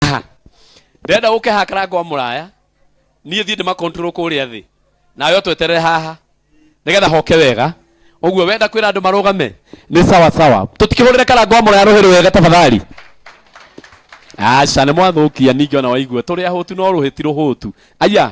Aha. ndĩrenda gũke hakara ngwa mũraya niĩ thiĩ ndĩmakontrol kũrĩa thĩ nawe tweterere haha nĩgetha hoke wega ũguo wenda kwĩra andũ marũgame nĩ sawa sawa tũtikĩhũrĩre karango wa mũraya rũhĩ rwega tafadhali aca nĩ mwathũkia ningĩ ona waigua tũrĩ ahũtu no rũhĩ ti rũhũtu aya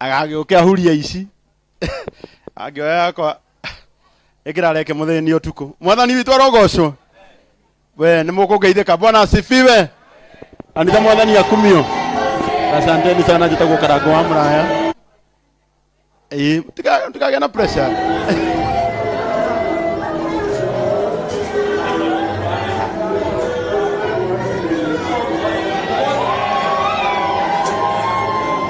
agagĩũke ahurie ici angĩoya yakwa ĩkĩra reke mũthenya nĩ ũtukũ mwathani witũ arogocwo we nĩ mũkũngeithĩka bwana asifiwe anitha mwathani akumio asanteni sana njĩtagwo karango wa mũraya Ĩĩ, tika- tikagĩa na pressure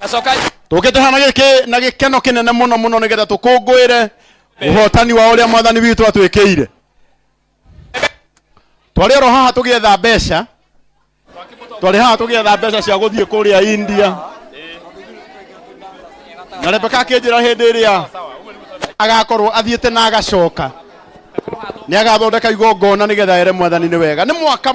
Acoka tũkĩte hana gĩkĩ na gĩkeno kĩnene mũno mũno nĩgetha tũkũngũĩre ũhotani wa ũrĩa mwathani witũ atwĩkĩire twarĩ oro haha tũgĩetha mbeca twarĩ haha tũgĩetha mbeca cia gũthiĩ kũrĩa india na rebeka akĩnjĩra hĩndĩ ĩrĩa agakorwo athiĩte na agacoka nĩ agathondeka igongona nĩgetha ere mwathani nĩ wega nĩ mwaka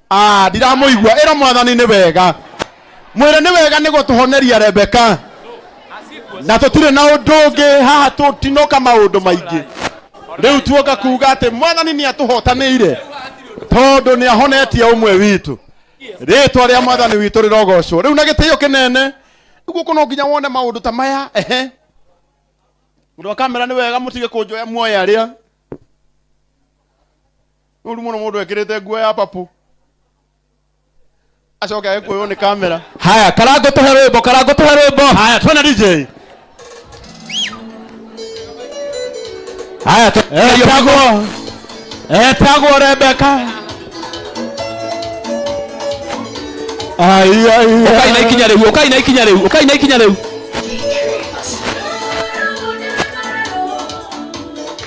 Ah, ndiramuigua ira mwathani ni wega mwire ni wega ni gutuhoneria rebeka na tutire na undu ungi haha tutinoka maundu maingi riu tuoka kuga ati mwathani ni atuhotanire tondu ni ahonetie umwe witu ritwa ria mwathani witu rirogocwo riu na gitio kinene uguo kuno nginya wone maundu ta maya ehe mundu wa kamera ni wega mutige kunjoya muoya aria nĩ ũru mũno mũndũ ekĩrĩte nguo ya papu acoke agĩkũywo nĩ kamera haya karango tũhe rwĩmbo karango tũhe rwĩmbo haya twena dj haya etagwo etagwo rebeka ukai na ikinya rĩu ukai na ikinya rĩu ukai na ikinya rĩu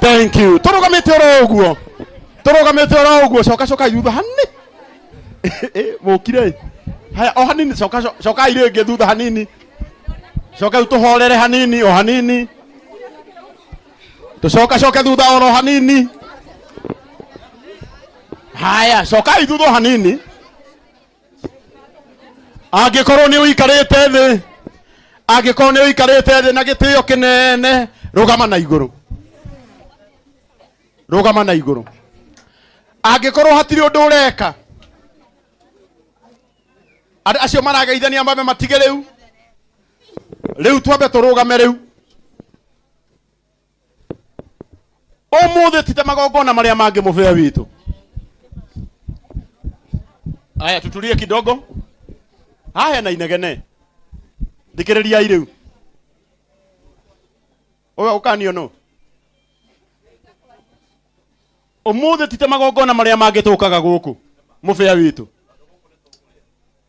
thank you turugamite oro uguo turugamite oro uguo coka coka thutha hanini Eh, mukire haya o hanini coka co- coka ire ngi thutha hanini coka riu tuhorere hanini o hanini tucoka coke thutha oro hanini haya coka ithutha o hanini angĩkorwo nĩ ũikarĩte thĩ angĩkorwo nĩ ũikarĩte thĩ na gĩtĩo kĩnene rũgama na igũrũ rũgama na igũrũ angĩkorwo hatirĩ ũndũ ũreka andũ acio marageithania mambe matige rĩu rĩu twambe tũrũgame rĩu ũmũthĩ tite magongona marĩa mangĩ mũbĩa witũ aya tutulie kidogo haya na inegene thikĩrĩriai rĩu Ũga- ũkanio no ũmũthĩ tite magongona marĩa mangĩ tũkaga gũkũ mũbĩa witũ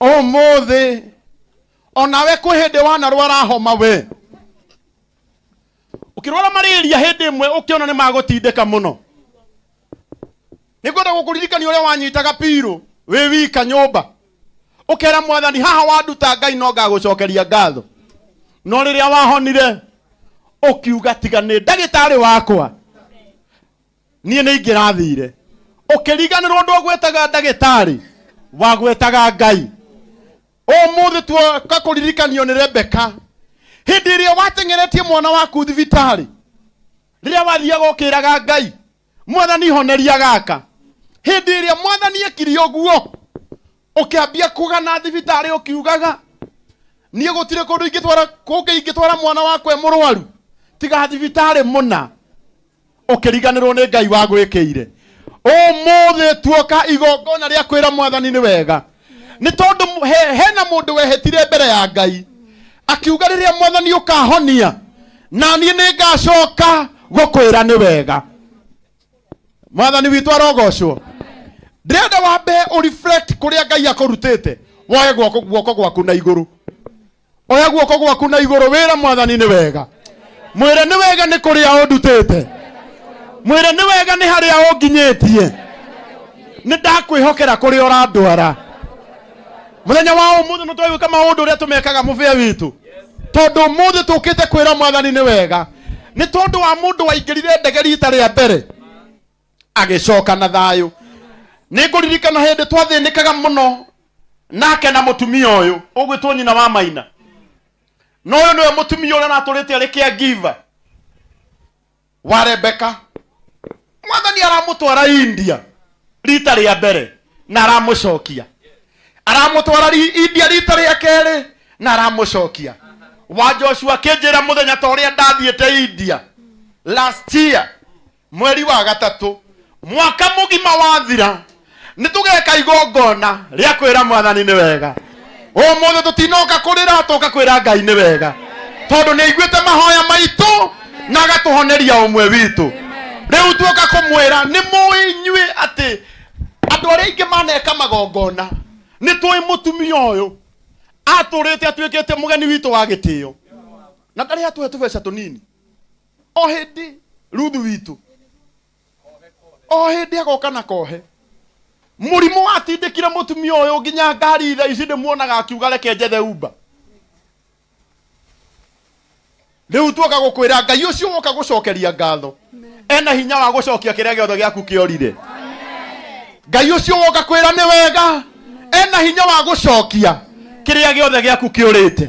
ũmũthĩ onawe kwĩ hĩndĩ wanarwara homa we ũkĩrwara marĩria hĩndĩ ĩmwe ũkĩona nĩ magũtindĩka mũno nĩngwenda gũkũririkania ũrĩa wanyitaga pirũ wĩ wika nyũmba ũkera mwathani haha wanduta ngai no ngagũcokeria ngatho no rĩrĩa wahonire ũkiuga tiga nĩ ndagĩtarĩ wakwa niĩ nĩ ingĩrathire ũkĩriganĩrwo ũndũ ũgwĩtaga ndagĩtarĩ wagwĩtaga ngai ũmũthĩ tuoka kũririkanio nĩ rebeka hĩndĩ ĩrĩa wateng'eretie mwana waku thibitarĩ rĩrĩa wathiaga ũkĩraga ngai mwathani honeria gaka hĩndĩ ĩrĩa mwathani ekiri ũguo ũkĩambia kũgana thibitarĩ ũkiugaga niĩ gũtirĩ kũndũ ingĩtwara kũngĩ ingĩtwara mwana wakwa e mũrwaru tiga thibitarĩ mũna ũkĩriganĩrwo nĩ ngai wagwĩkĩire ũmũthĩ tuoka igongona rĩa kwĩra mwathani nĩ wega nĩ tondũ mũ- he- hena mũndũ wehĩtire mbere ya ngai akiuga rĩrĩa mwathani ũkahonia na niĩ nĩ ngacoka gũkwĩra nĩ wega mwathani witũ arogocwo ndĩrenda wambe ũreflect kũrĩa ngai akũrutĩte woe guoko guoko gwaku na igũrũ oya guoko gwaku na igũrũ wĩra mwathani nĩ wega mwĩre nĩ wega nĩ kũrĩa ũndutĩte mwĩre nĩ wega nĩ harĩa ũnginyĩtie nĩ ndakwĩhokera kũrĩa ũrandwara mũthenya wa ũmũthĩ nĩ twagwĩka maũndũ ũrĩa tũmekaga mũbĩa witũ tondũ ũmũthĩ tũkĩte kwĩra mwathani nĩ wega nĩ tondũ wa mũndũ waingĩrire ndege rita rĩa mbere agĩcoka na thayũ nĩ ngũririkana hĩndĩ twathĩnĩkaga mũno nake na mũtumia ũyũ ũgwĩtwo nyina wa maina na ũyũ nĩwe mũtumia ũrĩa natũrĩte arĩ kĩa ngiva wa rebeka mwathani aramũtwara india rita rĩa mbere na aramũcokia aramũtwara ri- india rita rĩa kerĩ na aramũcokia wa joshua akĩnjĩra mũthenya ta ũrĩa ndathiĩte india last year mweri wa gatatũ mwaka mũgima wathira nĩ tũgeka igongona rĩa kwĩra mwathani nĩ wega ũmũthĩ tũtinoka kũrĩra tũka kwĩra ngai nĩ wega tondũ nĩ aiguĩte mahoya maitũ na agatũhoneria ũmwe witũ rĩu tuoka kũmwĩra nĩ mũĩ inyuĩ atĩ andũ arĩa aingĩ maneka magongona nĩ tũĩ mũtumia ũyũ atũrĩte atuĩkĩte mũgeni witũ wa gĩtĩo na ndarĩ atũhe tũbeca tũnini o hĩndĩ ruthu witũ o hĩndĩ agoka na kohe mũrimũ watindĩkire mũtumia ũyũ nginya ngari tha ici ndĩmuonaga akiuga reke njethe umba rĩu tuoka gũkwĩra ngai ũcio woka gũcokeria ngatho ena hinya wa gũcokia kĩrĩa gĩothe gĩaku kĩorire ngai ũcio woka kwĩra nĩ wega ena hinya wa gũcokia kĩrĩa gĩothe gĩaku kĩũrĩte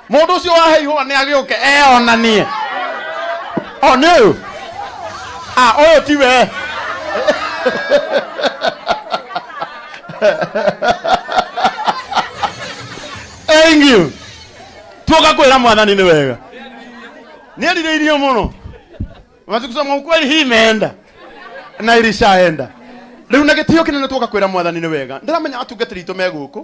mundu ucio wahe ihua ni agiuke eonanie o ni uyu ah uyu ti we thank you tuoka kwira mwathani ni wega ni arirĩirio mũno matukusoma ukweli hii imeenda na irishaenda rĩu na gĩtĩo kĩnene tuoka kwĩra mwathani nĩ wega ndĩramenya atungatĩri itũ me gũkũ